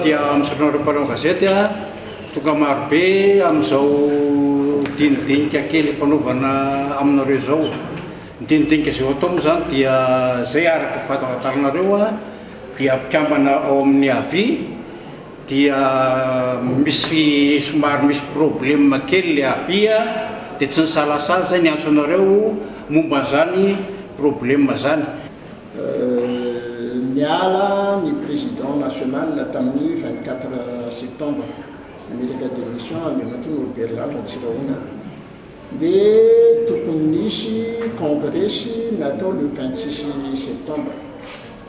dia misaotra anareo mpanao gazety a, tonga marobe amin'izao dinidinika kely fanaovana aminareo izao, ny dinidinika izay ho atao moa izany dia izay araka ny fahatantaranareo a, dia mpikambana ao amin'ny avi dia misy somary misy probleme kely ilay avi a, dia tsy nisalasala izay niantso anareo momba an'izany probleme izany. Niala ny Président National tamin'ny vingt quatre septembre nametraka démission Andriamatoa Norbert Lanto Antsirahonana dia tokony nisy kongresy natao le vingt six septembre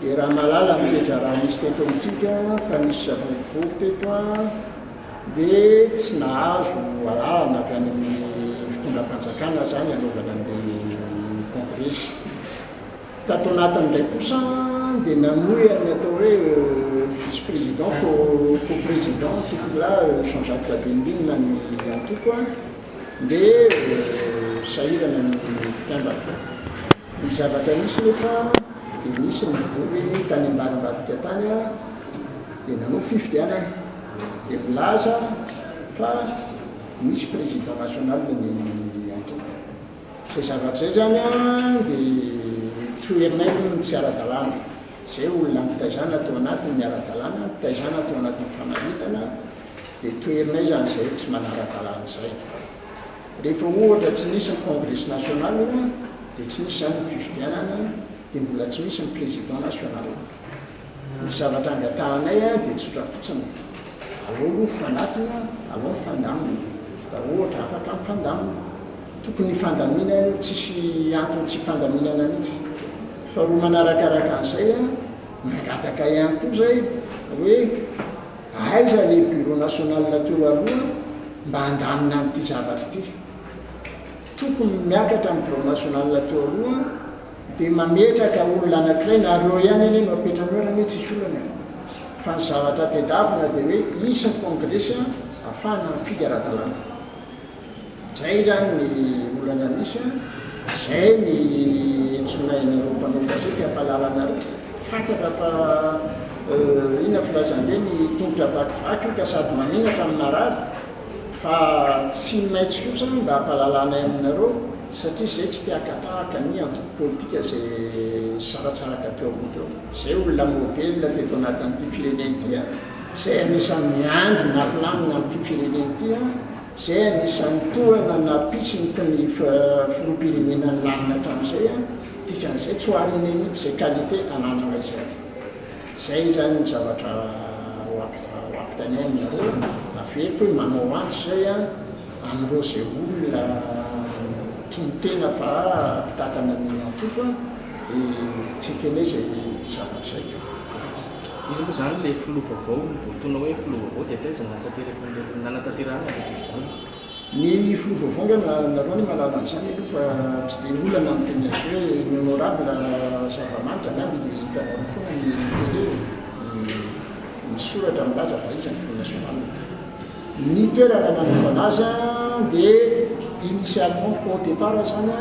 dia raha mahalala ny toetra raha nisy teto amintsika fa nisy savorovoro teto a dia tsy nahazo alalana avy any amin'ny fitondram-panjakana zany anaovana an'le kongresy Tato anatiny indray kosa dia namoy an'ny atao hoe vice président co-président antoko la Jean Jacques Rabenirina ny antoko dia sahirana ny mpikambana. Ny zavatra nisy nefa dia nisy nivory tany ambarimbavika tany dia nanao fifidianana dia milaza fa misy président national ny antoko. Izay zavatra izay izany dia toherinay aloha ny tsy ara-dalàna. Izay olona nitaizana atao anatiny ny ara-dalàna, nitaizana atao anatin'ny famarinana dia toherinay izany izay tsy manara-dalàna izay. Rehefa ohatra tsy nisy ny Congrès national dia tsy nisy izany ny fifidianana dia mbola tsy misy ny Président national. Ny zavatra angatahanay dia tsotra fotsiny, alao aloha mifanatona, alao mifandamina. Raha ohatra afaka mifandamina, tokony hifandamina aloha, tsisy antony tsy hifandaminana mihitsy. Faharoa manarakaraka an'izay, mangataka ihany koa izay hoe aiza ilay Bureau National teo aloha mba handamina an'ity zavatra ity. Tokony miakatra ny Bureau National teo aloha. Dia mametraka olona anankiray na roa ihany anie no apetranao raha anie tsisy olana e! Fa ny zavatra tedavina dia hoe hisy ny kongresy ahafahana mifidy ara-dalàna. Izay izany ny olana misy a! Izay ny hentsoana anareo mpanao gazety hampahalala anareo. Fantatra fa inona filazan'ireny tongotra vakivaky io ka sady manenatra no marary. Fa tsy ny maitso io zany mba hampahalalanay aminareo satria zay tsy te hakatahaka ny antoko politika zay nisaratsaraka teo aloha teo. Zay olona modèle teto anatin'ity firenena ity a, zay anisan'ny miandry napilamina an'ity firenena ity a, zay anisan'ny tohana napisinto ny filoham-pirenena nilamina hatramin'izay a, dikan'izay tsy ho arinay mihitsy zay qualité anananay zay. Izay izany ny zavatra ho ampitaininareo avy eto hoe manao antso izay an'ireo izay olona mitonon-tena fa mpitantana ny antoko dia tsy hiteny izay zavatra izay fa. Iza moa izany ilay filoha vaovao? Ny votoana hoe filoha vaovao dia taiza no nanatanteraka an'ireny, nanatanterahana an'ireny fifidianana? Ny fo voavondrana nareo anie mahalala an'izany aloha fa tsy dia olana ny teny azy hoe ny honorable zava-manitra angamba dia hitanareo foana ny télé ny soratra milaza fa iza ny front national. Ny toerana nanaovana azy dia initialement au départ izany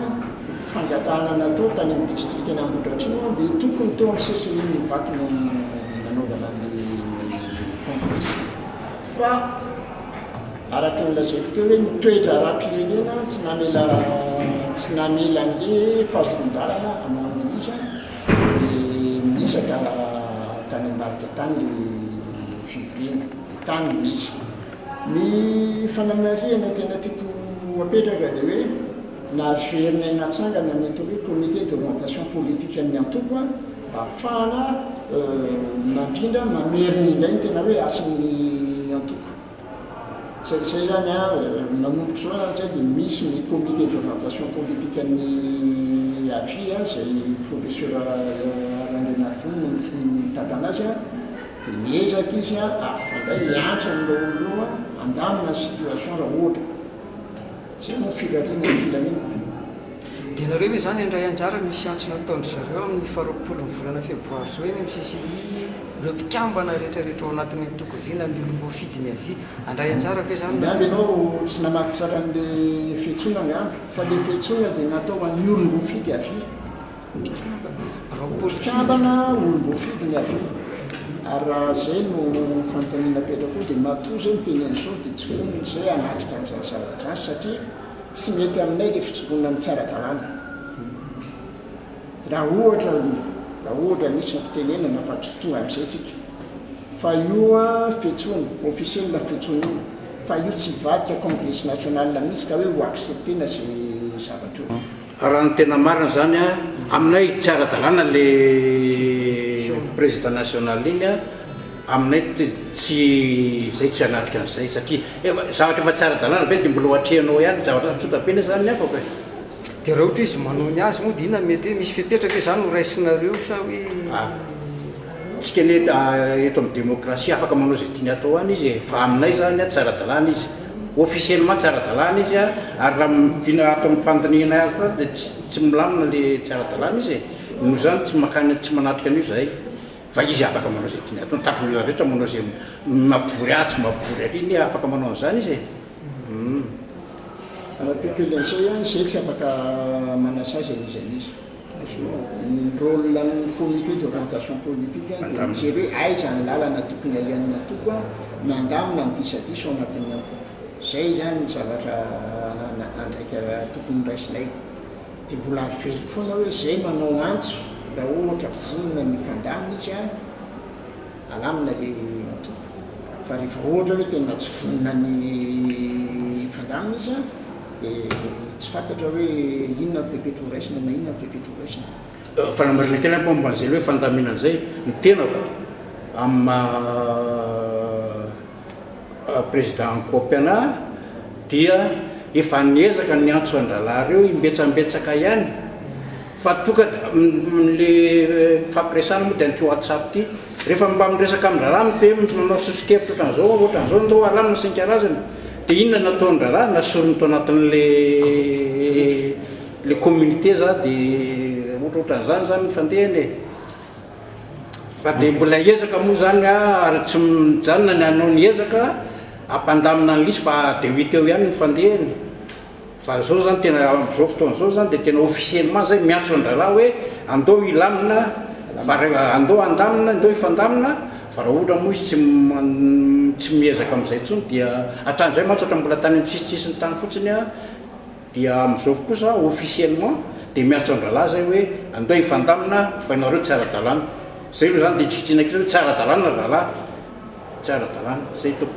fangatahana natao tany amin'ny district ny Ambohidratrimo dia tokony teo amin'ny CCI Ivato no nanaovana an'ilay congrès. Fa araka ny lazaiko teo hoe ny toe-draharaham-pirenena tsy namela tsy namela an'le fahazoan-dalana hamoahana iza dia niezaka tany ambadika tany le fivoriana dia tany no nisy. Ny fanamarihana tena tiako hapetraka dia hoe nahaveronay natsangana ny atao hoe comité d'orientation politique an'ny antoko a. Ahafahana mandrindra, mamerina indray ny tena hoe hasin'ny antoko. Izay izay izany, manomboka izao izany izay dia misy ny comité d'orientation politique an'ny AFI izay Professeur Randrianarivony no mitantana azy, dia miezaka izy hampifandray, hiantso an'ireo olona io handamina ny situation raha ohatra. Izay no firariana ny filaminana. Dia nareo ve izany handray anjara ny misy antso nataon-dry zareo amin'ny faharoapolo ny volana febroary izao eny amin'ny CCI ireo mpikambana rehetrarehetra ao anatin'ny antoko vy na ny olom-boafidy ny avia? Handray anjara ve izany nareo? Angamba ianao tsy namaky tsara an'ilay fiantsoana angamba, fa ilay fiantsoana dia natao ho an'ny olom-boafidy avia. Mpikambana, birao politika. Mpikambana, olom-boafidy ny avia. Ary raha izay no fanontaniana apetrako koa dia matoa izay miteny an'izao dia tsy fonony izay hanatrika an'izany zavatra izany satria. tsy mety aminay ilay fitsoronany tsy ara-dalàna. Raha ohatra, raha ohatra misy ny fitenenana fa tsy tonga amin'izay tsika. Fa io fetsony, officiel fetsony io, fa io tsy hivadika Congrès National mihitsy ka hoe ho accepter-na izay zavatra io. Raha ny tena marina izany an, aminay tsy ara-dalàna le président national iny an, aminay tsy, izay tsy hanatrika an'izay satria efa, zavatra efa tsy ara-dalàna ve dia mbola ho atrehinao ihany, zavatra tsotra be ilay izany ny afaka e. Dia raha ohatra hoe izy manao ny azy moa dia inona no mety hoe misy fepetra ve izany ho raisinareo sa hoe. Tsika anie eto amin'ny demokrasia afaka manao izay tiany atao any izy e, fa aminay izany tsy ara-dalàna izy, officiellement tsy ara-dalàna izy ary raha miviana ato amin'ny fandinihanay ato ato dia tsy milamina ilay tsy ara-dalàna izy e, noho izany tsy mankany tsy manatrika an'io izahay fa izy afaka manao izay tiany atao, ny takon'ny olona rehetra manao izay mampivory ahy tsy mampivory ary anie afaka manao an'izany izy e, humm. Arapek'io Lensoa ihany, izahay tsy afaka manasazy an'izany izy. Ny rôle an'ny comité d'orientation politique dia mijery hoe aiza ny lalana tokony alehan'ny antoko mandamina ny disadisa ao anatin'ny antoko. Izay izany ny zavatra andraikitra tokony horaisinay. Dia mbola averiko foana hoe izay manao antso raha ohatra vonona ny hifandamina izy alamina ilay antoko fa rehefa ohatra hoe tena tsy vonona ny hifandamina izy, Dia tsy fantatra hoe inona ny fepetra ho raisina na inona ny fepetra ho raisina. Fanamarinan-tena koa momba an'izay hoe fandaminana izay ny tenako amin'ny maha prezida an'i Koopy anà dia efa niezaka ny niantso an-drahalahy ireo imbetsambetsaka ihany. Fa toka le fifampiresana moa de an'ity WhatsApp ty. Rehefa mba miresaka amin'ny raharaha ny PM no manao soso-kevitra ohatran'izao hoe ohatran'izao ny raharaha no isan-karazany de inona no nataon'ny raharaha na sorony tao anatin'le le communiqué za de ohatra ohatran'izany zany ny fandehany e. Fa de mbola hiezaka moa zany a ary tsy mijanona ny hanao ny ezaka hampandamina an'lisy fa de ho hita eo ihany ny fandehany. Fa izao izany tena amin'izao fotoana izao izany dia tena officiellement izay miantso an-drahalahy hoe andao hilamina fa raha andao handamina andao hifandamina fa raha ohatra moa izy tsy tsy miezaka amin'izay intsony dia hatramin'izay mantsy ohatra mbola tany amin'ny sisintsisiny tany fotsiny dia amin'izao kosa officiellement dia miantso an-drahalahy izay hoe andao hifandamina fa ianareo tsy ara-dalàna. Izay aloha izany dia tsy ikitrihana kosa hoe tsy ara-dalàna ry rahalahy, tsy ara-dalàna. Izay tompoko.